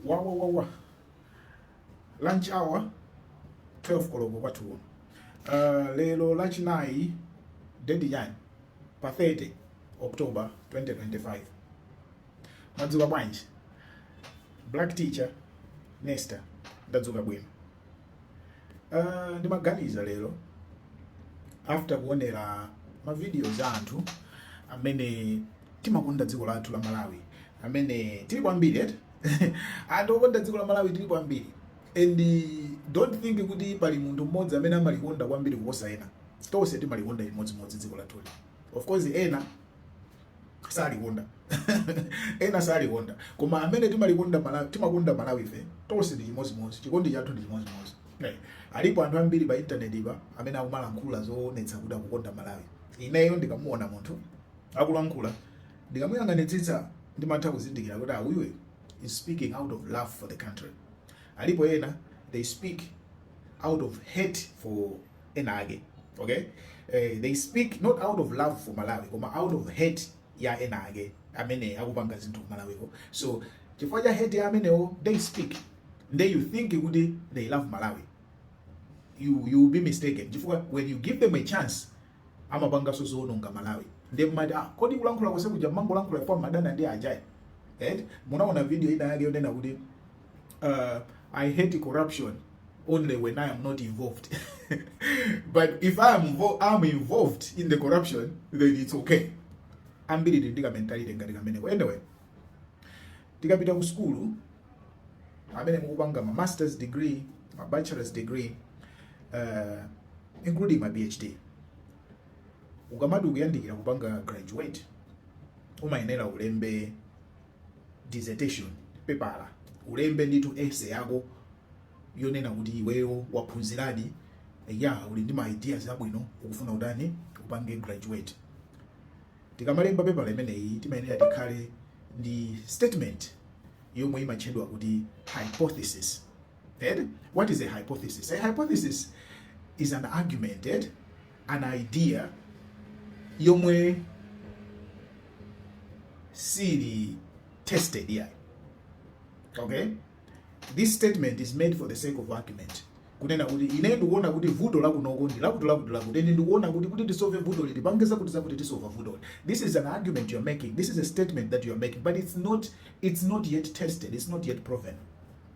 wawa wawa lunch hour 12 koloko kwathu kuno uh, lero lachinayi date yani pa 30 october 2025 mwadzuka bwanji black teacher nesta ndadzuka bwino Uh, ndimaganiza lero after kuonera mavidiyo za anthu amene timakonda dziko lathu la malawi amene tili kwambiri eti anthu okonda dziko la malawi tili kwambiri and don't think kuti pali munthu mmodzi amene amalikonda kwambiri kuposa ena tonse timalikonda chimodzimodzi dziko lathuli of course ena salikonda ena salikonda koma amene timalikonda malawi timakonda malawife tonse ndi chimodzimodzi chikondi chathu ndi chimodzimodzi eh, alipo anthu ambiri pa intanetipa amene akumalankhula zoonetsa kuti akukonda malawi ineyo ndikamuona munthu akulankhula ndikamuyang'anitsitsa ndimatha kuzindikira kuti uyuyu ah, is speaking out of love for the country alipo ena they speak out of hate for enaake ok they speak not out of love for malawi koma out of hate ya enaake amene akupanga zinthu ku Malawiko so chifukwa cha hate ya amenewo they speak nde you think kuti they love malawi you, you will be mistaken chifukwa when you give them a chance amapangaso zoononga malawi nde mumati ah, kodi kulankhula kose kuja mumangolankhula kwa madana ndi ajayi right? munaona video ina yake yonena kuti uh, I hate corruption only when I am not involved. but if I am I'm involved in the corruption, then it's okay. Ambiri tili ndi kamentality ngati kameneko. Anyway, tikapita ku school amene mukupanga ma master's degree, ma bachelor's degree, uh, including ma PhD. Ukamati ukuyandikira kupanga graduate, umayenera ulembe dissertation pepala ulembe ndithu essay yako yonena kuti iweyo waphunziradi ya uli ndi ma ideas abwino ukufuna utani upange graduate tikamalemba pepala imeneyi timayenera tikhale ndi statement yomwe imatchedwa kuti hypothesis Eti? What is a hypothesis? A hypothesis is an argument, eti? An idea yomwe siili tested ayi. Okay? This statement is made for the sake of argument. kunena kuti ine ndikuona kuti vuto lakunoko ndi lakuti lakuti lakuti ine ndikuona kuti kuti tisove vutoli tipange zakutizakuti tisova vutoli this is an argument you're making this is a statement that you're making but it's not it's not yet tested it's not yet proven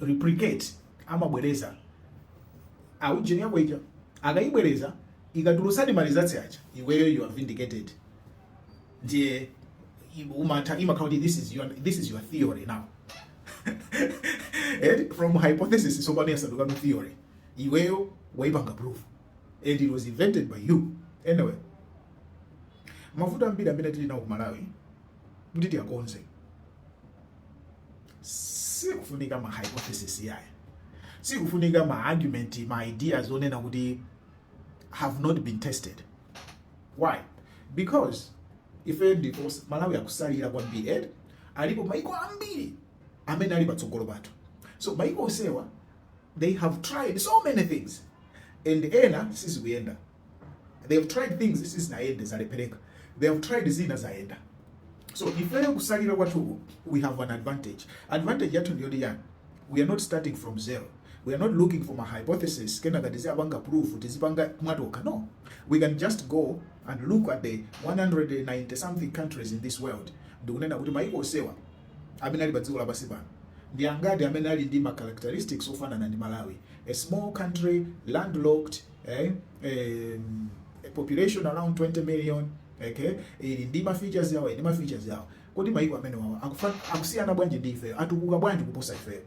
replicate amabwereza aujeni yako ija akaibwereza ikatulutsadi ma results aja iweyo you are vindicated ndiye umatha imakhala kuti this is your, this is your theory now and from hypothesis tsopano yasandukano theory iweyo waipanga proof and it was invented by you anyway mavuto ambiri amene tili nawo ku malawi kuti tiyakonze sikufunika ma hypothesis yaya sikufunika ma argument ma ideas onena kuti have not been tested why because ife ndiye Malawi akusalira kwambiri eh alipo maiko ambiri amene ali patsogolo pathu so maiko onsewa they have tried so many things and ena sizikuyenda they have tried things sizinayende zalephereka they have tried zina zayenda so ifeyo kusalira kwathuku we have an advantage advantage yathu ndiyoti yani we are not starting from zero we are not looking for ma hypothesis kenaka tiziyapanga proof tizipanga mwatopa no we can just go and look at the 190 something countries in this world ndikunena kuti maiko onsewa amene ali pa dziko lapansi pano ndi angati amene ali ndi ma characteristics ofanana ndi malawi a small country landlocked eh, eh, a population around 20 million okay ili ndi ma features yawo ndi ma features yawo kodi maiko amenewawa akusiyana bwanji ndi ife atukuka bwanji kuposa ife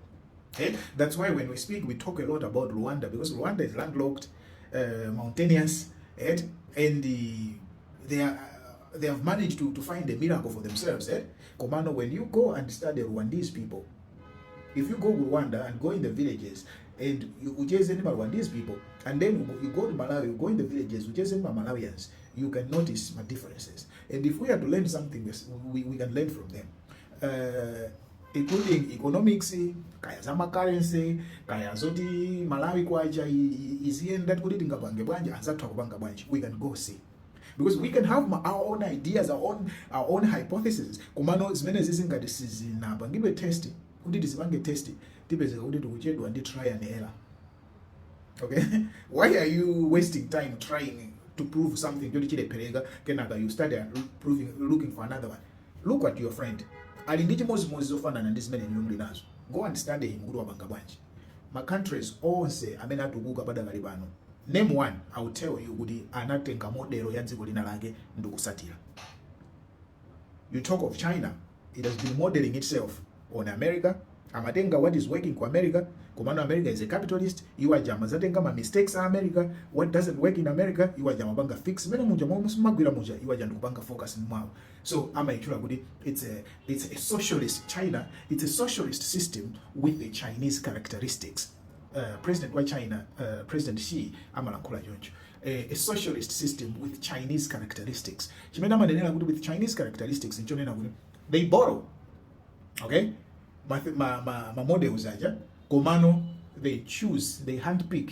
okay that's why when we speak we talk a lot about Rwanda because Rwanda is landlocked uh, mountainous right? and the, they are they have managed to, to find a miracle for themselves eh? Komano, when you go and study Rwandese people, if you go ku rwanda and go in the villages and you- ucheze ndi maluwa these people and then you go- you go to malawi you go in the villages ucheze ndi malawians you can notice my differences and if we are to learn something we, we, we can learn from them uh, including economics kaya za macurrency kaya zoti malawi kwacha i- i- iziyenda kuti tingapange bwanji anzathu akupanga bwanji we can go see because we can have ma- our own ideas our own, our own hypotheses komano zimenezizi ngati sizinapangidwe test kuti tizipange test tipezeka kuti tikuchedwa ndi try and error okay why are you wasting time trying to prove something choti chilephereka kenaka you start uh, proving, looking for another one look at your friend ali ndi chimodzimodzi zofanana ndi zimene inu muli nazo go and study him kuti wapanga bwanji ma countries onse amene atukuka padakali pano name one i will tell you kuti anatenga model ya dziko lina lake ndikusatira you talk of china it has been modeling itself on america amatenga what is working ku america komano america is a capitalist iwo aja amazatenga ma mistakes a america what doesn't work in america iwo aja amapanga fix mene muja momwe zimagwira muja iwo aja ndikupanga focus mwawo so amaitchula kuti its a, it's a socialist china its a socialist system with the chinese characteristics uh, president wa china uh, president xi amalankhula choncho eh, a socialist system with chinese characteristics chimene amanenera kuti with chinese characteristics nchonena kuti they borrow okay ma, ma, ma, ma models aja komano they choose they handpick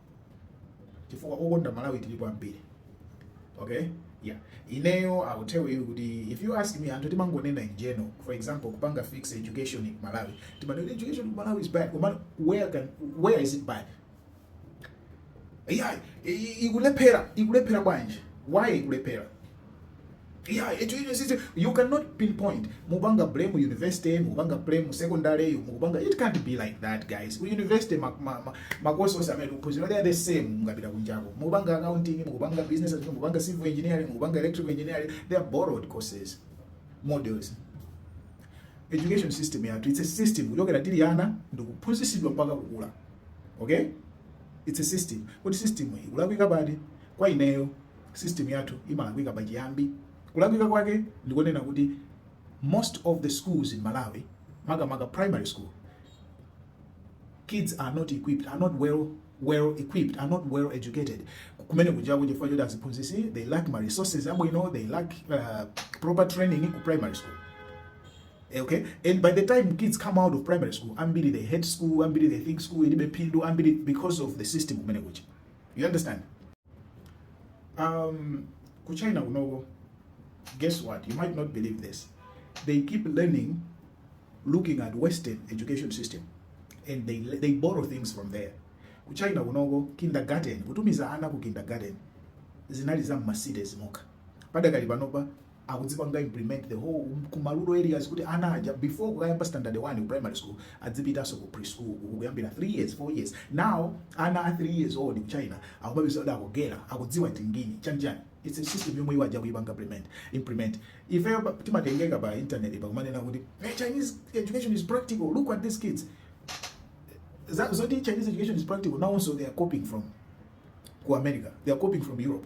chifukwa okonda malawi tilipo ambiri okay yeah ineyo i will tell you kuti if you ask me anthu timangonena in general for example kupanga fix education in malawi timanena education in malawi is bad koma where, can, where is it bad yeah i- i- ikulephera ikulephera bwanji why ikulephera Yeah, it, it, it, it, you cannot pinpoint. Mubanga blame university, Mubanga blame secondary, Mubanga. It can't be like that, guys. We university ma ma ma makoso ose amene kuphunzira they are the same mukapita kunjako. Mubanga accounting, Mubanga business, Mubanga civil engineering, Mubanga electrical engineering, they are borrowed courses, modules. Education system yathu, it's a system. Kuchokera tili ana ndikuphunzitsidwa mpaka kukula. Okay? It's a system. Kuti system iyi kulakwika pati kwa ineyo System yathu imalakwika pa chiyambi. Kulakwika kwake ndikonena kuti most of the schools in Malawi makamaka primary school kids are not equipped, are not well well equipped are not well educated kumeneko kuja chifukwa choti aziphunzisi they lack ma resources abwino they lack uh, proper training ku primary school eh, okay and by the time kids come out of primary school ambiri they hate school ambiri they think school ilibe phindu ambiri because of the system kumene kuja you understand um ku china kunoko guess what you might not believe this they keep learning looking at western education system and they, they borrow things from there ku china kunoko kindergarten kutumiza ana ku kindergarten zinali za m'ma cities mokha padakali panopa akudzipanga implement the whole ku marural areas kuti ana aja before kuyamba standard 1 ku primary school adzipitanso ku preschool uku kuyambira 3 years 4 years now ana a 3 years old ku china akumapeza kuti akugera akudziwa tingini chanjani it's a system yomwe iwo aja akuipanga implement implement ifeyo pa- timatengeka pa internet pakumanena kuti hey, chinese education is practical look at these kids Za- zoti chinese education is practical now also they are copying from ku america they are copying from europe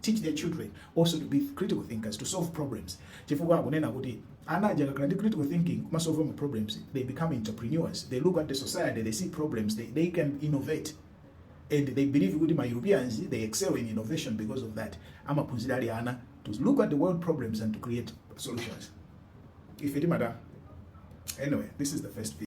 teach their children also to be critical thinkers to solve problems chifukwa akunena kuti ana aja akakhala ndi critical thinking kumasolve ma problems they become entrepreneurs they look at the society they see problems they, they can innovate and they believe kuti ma europeans they excel in innovation because of that amaphunzira ali ana to look at the world problems and to create solutions ife timata anyway this is the first video.